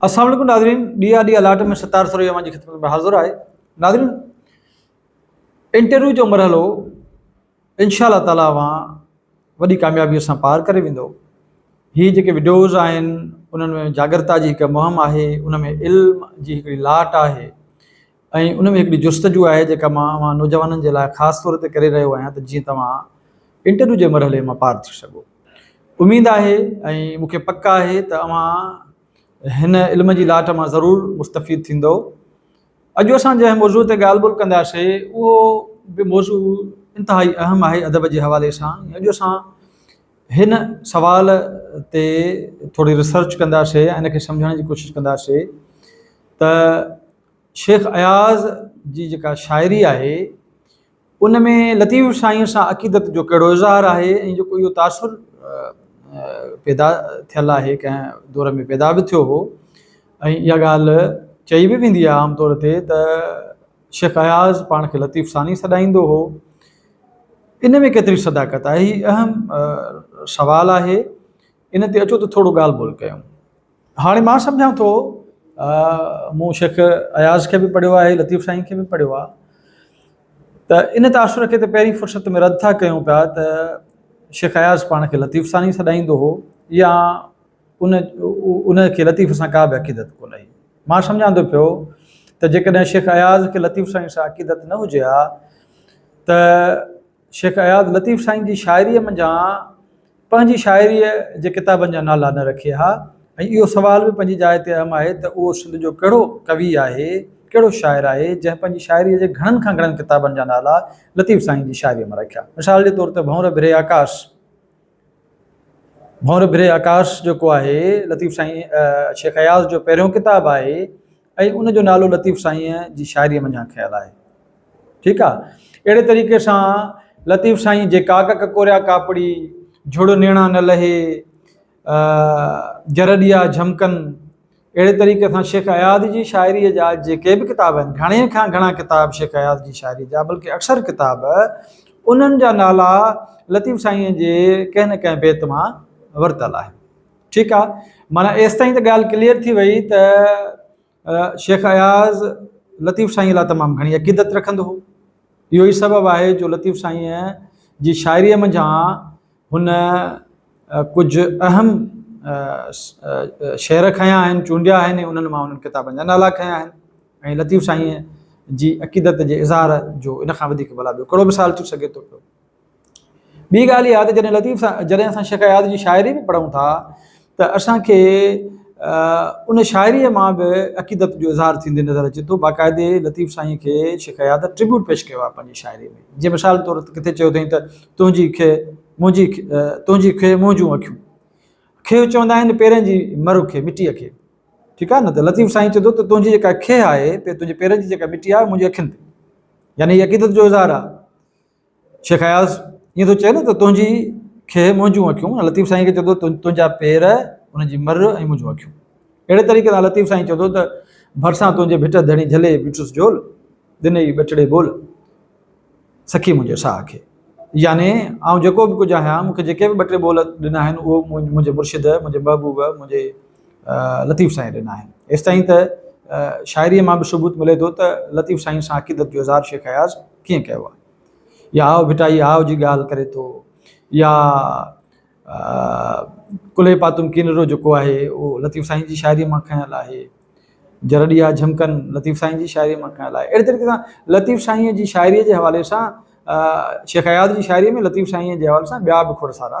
السلام عليڪم ناظرين ڊي آر ڊي الاٽ ۾ ستار سريو اوهان جي خدمت ۾ حاضر آهي ناظرين انٽرويو جو مرحلو انشاء الله تعاليٰ اوهان وڏي ڪاميابي سان پار ڪري ويندو هي جيڪي وڊيوز آهن انهن ۾ جاگرتا جي هڪ مهم آهي ان ۾ علم جي هڪڙي لاٽ آهي ۽ ان ۾ هڪڙي جستجو آهي جيڪا مان اوهان نوجوانن جي لاء خاص طور تي ڪري رهيو آهيان ته جيئن توهان انٽرويو جي مرحلي مان پار ٿي سگهو. اميد آهي ۽ مون کي پڪ آهي ته اوهان هن علم جي لاٽ مان ضرور مستفيد ٿيندؤ. اڄ اسان جنهن موضوع تي ڳالهه ٻولهه ڪنداسي اهو به موضوع انتهائي اهم آهي ادب جي حوالي سان ۽ اڄ اسان هن سوال تي ٿوري ريسرچ ڪنداسي ۽ ان کي سمجهڻ جي ڪوشش ڪنداسي ته شيخ اياز جي جيڪا شاعري آهي ان ۾ لطيف سائين سان عقيدت جو ڪهڙو اظهار آهي ۽ جيڪو اهو تاثر پيدا ٿيل آهي ڪنهن دور ۾ پيدا به ٿيو هو ۽ اها ڳالهه چئي به ويندي آهي عام طور تي ته شيخ اياز پاڻ کي لطيف ثاني سڏائيندو هو ان ۾ ڪيتري صداقت آهي هي اهم سوال آهي ان تي اچو ته ٿورو ڳالهه ٻولهه ڪيون. هاڻي مان سمجهان ٿو مون شيخ اياز کي به پڙهيو آهي لطيف سائين کي به پڙهيو آهي ته ان تاثر کي ته پهرين فرصت ۾ رد ٿا ڪيون پيا ته شيخ اياز پاڻ کي لطيف ثاني سڏائيندو هو يا ان ان کي لطيف سان ڪا به عقيدت ڪو نه هئي مان سمجهان ٿو پيو ته جيڪڏهن شيخ اياز کي لطيف سائين سان عقيدت نه هجي ها ته شيخ اياز لطيف سائين جي شاعريء منجهان پنهنجي شاعريء جي ڪتابن جا نالا نه رکي ها ۽ اهو سوال به پنهنجي جاء تي اهم آهي ته اهو سنڌ جو ڪهڙو ڪوي آهي، ڪهڙو شاعر آهي، جنهن پنهنجي شاعريء جي گهڻن کان گهڻن ڪتابن جا نالا لطيف سائين جي شاعريء مان رکيا. مثال جي طور تي ڀنور ڀري آڪاس. ڀؤنر ڀري آڪاش جيڪو آهي لطيف سائين شيخ اياز جو پهريون ڪتاب آهي ۽ ان جو نالو لطيف سائين جي شاعري منجهان کيل آهي ٺيڪ آ اهڙي طريقي سان لطيف سائين جي ڪاڪ ڪڪوريا ڪاپڙي جھڙو نيڻا نه لهي جرڏيا جھمڪن اهڙي طريقي سان شيخ اياز جي شاعريء جا جيڪي به ڪتاب آهن، گهڻي کان گهڻا ڪتاب شيخ اياز جي شاعريء جا بلڪه اڪثر ڪتاب انهن جا نالا لطيف سائينء جي ڪنهن نه ڪنهن بيت مان ورتل آهن. ٺيڪ آ معنيٰ ايستائين ته ڳالهه ڪليئر ٿي وئي ته شيخ اياز لطيف سائينء لاء تمام گهڻي عقيدت رکندو هو. اهو ئي سبب آهي جو لطيف سائينء جي شاعريء منجهان هن ڪجهه اهم شعر کنيا آهن، چونڊيا آهن ۽ انهن مان انهن ڪتابن جا نالا کنيا آهن ۽ لطيف سائينء جي عقيدت جي اظهار جو ان کان وڌيڪ ڀلا ٻيو ڪهڙو مثال ٿي سگهي ٿو پيو. ٻي ڳالهه اها ته جڏهن لطيف جڏهن اسان شيخ اياز جي شاعري به پڙهون ٿا ته اسان کي ان شاعريء مان به عقيدت جو اظهار ٿيندي نظر اچي ٿو. باقاعدي لطيف سائينء کي شيخ اياز Tribute پيش ڪيو آهي پنهنجي شاعريء ۾، جيئن مثال طور ته ڪٿي چيو اٿائين ته، تنهنجي کي منهنجي تنهنجي کي منهنجون اکيون. کي چوندا آهن پيرن جي مر کي، مٽيء کي. ٺيڪ آهي نه؟ ته لطيف سائين چئي ٿو ته تنهنجي جيڪا کي آهي، تنهنجي پيرن جي جيڪا مٽي آهي، اها منهنجي اکين تي. يعني هي عقيدت جو اظهار آهي. شيخ اياز، ائين ٿو چئين نه ته تنهنجي کهه منهنجون اکيون ۽ لطيف سائين کي چئي ٿو ته تنهنجا پير ان جي مر ۽ منهنجون اکيون. اهڙي طريقي سان لطيف سائين چئي ٿو ته ڀرسان تنهنجي ڀٽ ڌڻي جهلي بيٺس جهول، ڏنئي ٻٽڙي ٻول، سکي منهنجي ساهه کي. يعني آئون جيڪو به ڪجهه آهيان، مون کي جيڪي به ٻٽڙي ٻول ڏنا آهن، اهو منهنجي مرشد، منهنجي محبوب، منهنجي لطيف سائين ڏنا آهن. ايستائين ته شاعريء مان به ثبوت ملي ٿو ته لطيف سائين سان عقيدت جو اظهار شيخ اياز ڪيئن ڪيو آهي. يا آء ڀٽائي آء جي ڳالهه ڪري ٿو يا ڪلهي پاتم ڪينرو جيڪو آهي اهو لطيف سائين جي شاعريء مان کنيل آهي. جرڙيا جهمڪن لطيف سائين جي شاعريء مان کنيل آهي. اهڙي طريقي سان لطيف سائينء جي شاعريء جي حوالي سان شيخ اياز جي شاعريء ۾ لطيف سائينء جي حوالي سان ٻيا به کوڙ سارا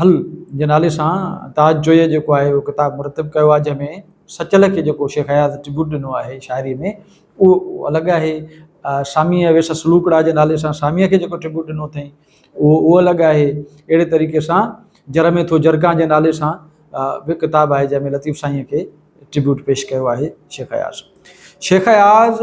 حل جي نالي سان تاج جويي جيڪو آهي اهو ڪتاب مرتب ڪيو آهي جنهن ۾ سچل کي جيڪو شيخ اياز ٽربيوٽ ڏنو آهي شاعري ۾ اهو الڳ آهي ساميء ويس سلوڪڙا جي نالي سان ساميء کي جيڪو ٽربيوٽ ڏنو اٿئي اهو اهو الڳ آهي اهڙي طريقي سان جر ۾ ٿو جرگان جي نالي سان به ڪتاب آهي جنهن ۾ لطيف سائينء کي ٽربيوٽ پيش ڪيو آهي شيخ اياز شيخ اياز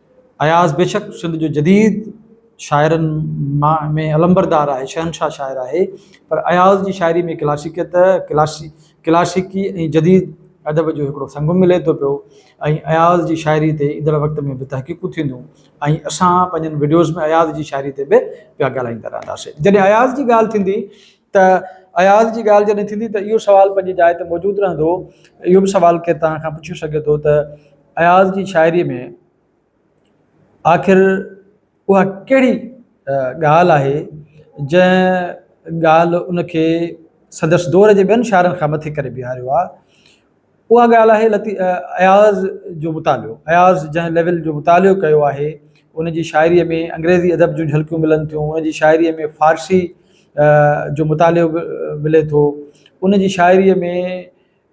اياز بيشڪ سنڌ جو جديد شاعرن مان ۾ علمبردار آهي، شهنشاهه شاعر آهي، پر اياز جي شاعري ۾ ڪلاسيڪيت، ڪلاسيڪي ۽ جديد ادب جو هڪڙو سنگم ملي ٿو پيو ۽ اياز جي شاعري تي ايندڙ وقت ۾ به تحقيقون ٿينديون ۽ اسان پنهنجن وڊيوز ۾ اياز جي شاعري تي به پيا ڳالهائيندا رهنداسين. جڏهن اياز جي ڳالهه ٿيندي ته اياز جي ڳالهه جڏهن ٿيندي ته اهو سوال پنهنجي جاء تي موجود رهندو، اهو به سوال ڪير توهان کان پڇي سگهي ٿو ته. اياز جي شاعريء ۾ آخر اها ڪهڙي ڳالهه آهي، جنهن ڳالهه ان کي سندس دور جي ٻين شاعرن کان مٿي ڪري بيهاريو آهي؟ اها ڳالهه آهي لطيف اياز جو مطالعو. اياز جنهن ليول جو مطالعو ڪيو آهي، ان جي شاعريء ۾ انگريزي ادب جون جهلڪيون ملن ٿيون، ان جي شاعريء ۾ فارسي جو مطالعو به ملي ٿو، ان جي شاعريء ۾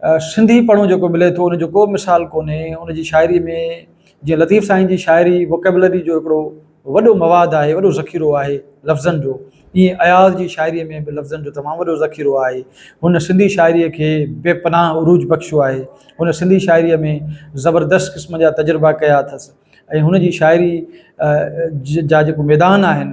سنڌي پڙهون جيڪو ملي ٿو ان جو ڪو به مثال ڪونهي ان جي شاعري ۾ جيئن لطيف سائين جي شاعري وڪيبلري جو هڪڙو وڏو مواد آهي وڏو ذخيرو آهي لفظن جو ائين اياز جي شاعري ۾ به لفظن جو تمام وڏو ذخيرو آهي هن سنڌي شاعري کي بي پناهه عروج بخشيو آهي هن سنڌي شاعري ۾ زبردست قسم جا تجربا ڪيا اٿس ۽ هن جي شاعري جا جيڪو ميدان آهن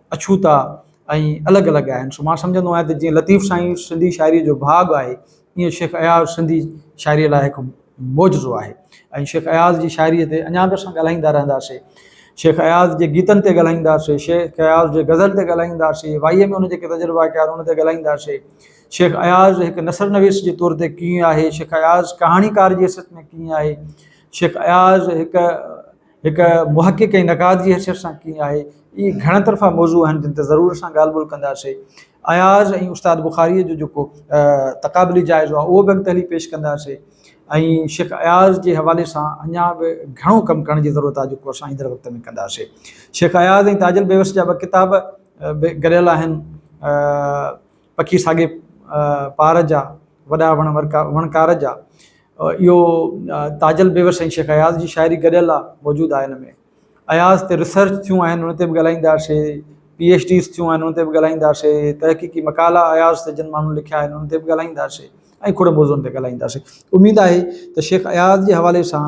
اڇوتا ۽ الڳ الڳ آهن سو مان سمجهندو آهيان ته جيئن لطيف سائين سنڌي شاعريء جو ڀاڳ آهي ايئن شيخ اياز سنڌي شاعريء لاء هڪ معجزو آهي ۽ شيخ اياز جي شاعريء تي اڃا به اسان ڳالهائيندا رهنداسي شيخ اياز جي گيتن تي ڳالهائينداسي شيخ اياز جي غزل تي ڳالهائينداسي وائيء ۾ ان جي ڪي تجربا ڪيا ان تي ڳالهائينداسي شيخ اياز هڪ نثر نويس جي طور تي ڪيئن آهي شيخ اياز ڪهاڻيڪار جي حيثيت ۾ ڪيئن آهي شيخ اياز هڪ هڪ محقق ۽ نقاد جي حيثيت سان ڪيئن آهي، اهي گهڻ طرفا موضوع آهن جن تي ضرور اسان ڳالهه ٻولهه ڪنداسين. اياز ۽ استاد بخاريء جو جيڪو تقابلي جائزو آهي اهو به اڳتي هلي پيش ڪنداسين ۽ شيخ اياز جي حوالي سان اڃا به گهڻو ڪم ڪرڻ جي ضرورت آهي جيڪو اسان ايندڙ وقت ۾ ڪنداسين. شيخ اياز ۽ تاج البيوس جا ٻه ڪتاب به گڏيل آهن پکي ساڳي پار جا، وڏا وڻ وڻڪار جا. اهو تاجل بيوس ۽ شيخ اياز جي شاعري گڏيل آ موجود آ هن ۾ اياز تي ريسرچ ٿيون آهن ان تي به ڳالهائينداسي پي ايڇ ڊيز ٿيون آهن ان تي به ڳالهائينداسي تحقيقي مقالا اياز تي جن ماڻهن لکيا آهن ان تي به ڳالهائينداسي ۽ کوڙن موضوعن تي ڳالهائينداسي اميد آهي ته شيخ اياز جي حوالي سان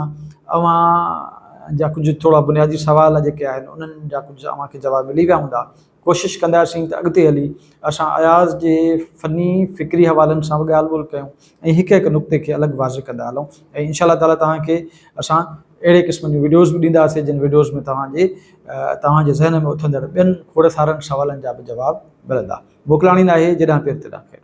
اوهان جا ڪجهه ٿورا بنيادي سوال جيڪي آهن انهن جا ڪجهه اوهان کي جواب ملي ويا هوندا ڪوشش ڪنداسين ته اڳتي هلي اسان اياز جي فني فڪري حوالن سان به ڳالهه ٻولهه ڪيون ۽ هڪ هڪ نقطي کي الڳ واضح ڪندا هلون ۽ انشاء الله تعالي توهان کي اسان اهڙي قسم جون وڊيوز به ڏينداسين جن وڊيوز ۾ توهان جي توهان جي ذهن ۾ اٿندڙ ٻين کوڙ سارن سوالن جا به جواب ملندا موڪلاڻي ناهي جيڏانهن پير تيڏانهن خير.